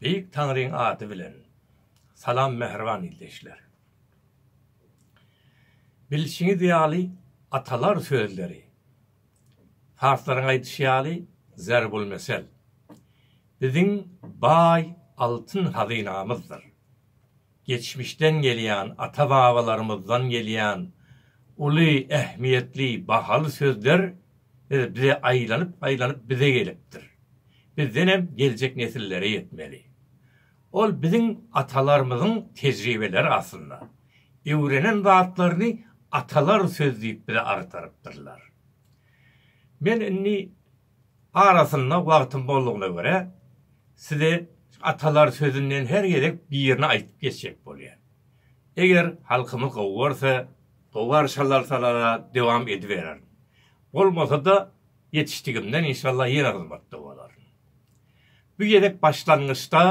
Beýik Taňryň ady bilen salam mähriban ildeşler! Bilşiňiz ýaly atalar sözleri, parslaryň aýdyşy ýaly zerbulmesel, biziň baý altyn hazynamyzdyr. Geçmişden gelýän, ata-babalarymyzdan gelýän uly ähmiýetli, bahaly sözler bize aýlanyp-aýlanyp bize gelipdir. Bizden hem geljek nesillere ýetmeli. Ol biziň atalarymyzyň tejribeleri aslynda. Öwrenen zatlaryny atalar söz diýip bize agtarypdyrlar. Men indi Arasynda wagtym boldugyna görä, size atalar sözünden her gezek birini aýdyp geçjek bolýan. Eger halkymyz gowy görse, gowy garşy alarsalar-a dowam edibererin. Bolmasa-da, ýetişdigimden inşallah ýene hyzmatda bolaryn. Bu gezek başlangyçda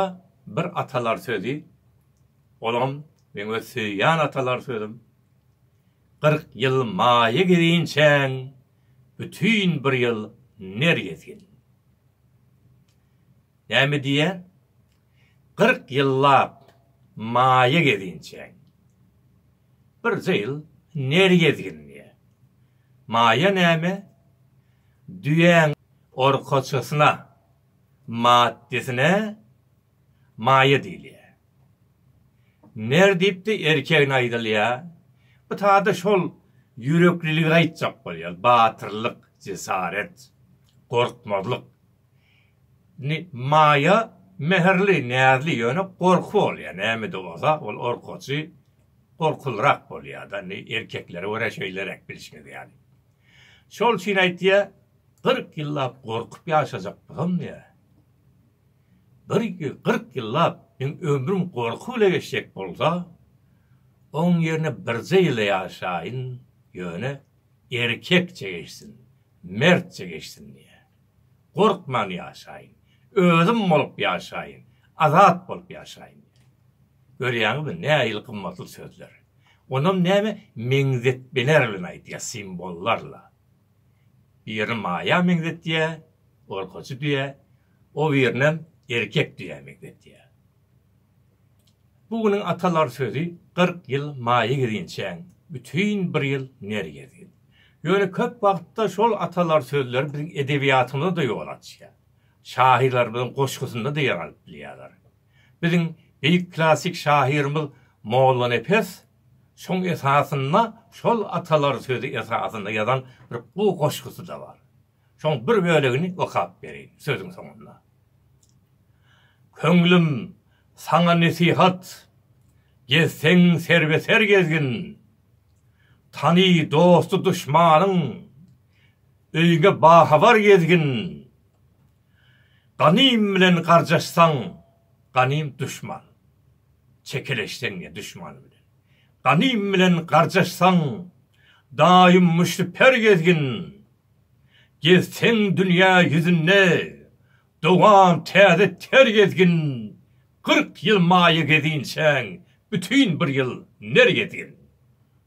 bir atalar sözi, olam meň öz söýýän atalar sözüm, Kyrk ýyl maýa girinçäň, Bütin bir ýyl ner gezgin. Näme diýýän? Kyrk ýyllap maýa gezinçäň. Birje ýyl ner gezgin diýýär. Maýa näme? Düýäň orkaçasyna, maddesine maýa diýilýär. Ner diýipdi, erkegne aýdylýa. Bu taýda şol ýürekliligi aýtjak bolýar, batyrlyk, jesaret, gorkmazlyk. Indi Maýa mähirli, näzli, ýöne gorky bolýar, näme-de bolsa ol orkaçy, gorkulyrak bolýar-da, indi erkeklere görä şeýleräk bilşiňiz ýaly. Şol üçin aýtýa, Kyrk ýyllap gorkup ýaşajak bolsam diýýä. Bir ýüz kyrk ýyllap meň ömrüm gorky bile geçjek bolsa, oň ýerine birje ýyl-a ýaşaýyn, ýöne erkekçe geçsin, mertçe geçsin diýýän. Gorkman ýaşaýyn, özüm bolup ýaşaýyn, azat bolup ýaşaýyn diýýän. Görýäňizmi, nähili gymmatly sözler. Onam näme meňzetmeler bilen aýdýar, simbollarla. Birini maýa meňzetýär, gorkuçy düýä, o birinem erkek düýä meňzetýär. Bu günüň atalar sözi Kyrk ýyl maýa gezinçäň, bütin bir ýyl ner gezgin. Ýöne köp wagtda şol atalar sözleri biziň edebiýatymyza-da ýol açýar. Şahyrlarymyzyň goşgusynda-da ýer alyp bilýärler. Biziň beýik klassyk şahyrymyz Mollanepes şoň esasynda şol atalar sözi esasynda ýazan bir gowy goşgusy-da bar. Şoň bir bölegini okap bereýin sözüň soňunda. Köňlüm, saňa nesihat, Gezseň serbe-ser gezgin, Tany dosty-duşmanyň, Öýüňe bahabar gezgin. Ganym bilen garjaşsaň, ganym duşman. Çekeleşseň ýa duşman bilen. Ganym bilen garjaşsaň, daýym müşriper gezgin. Gezseň dünýä ýüzünde, dowam täze ter gezgin. Kyrk ýyl maýa gezinçäň, bütin bir ýyl ner gezgin.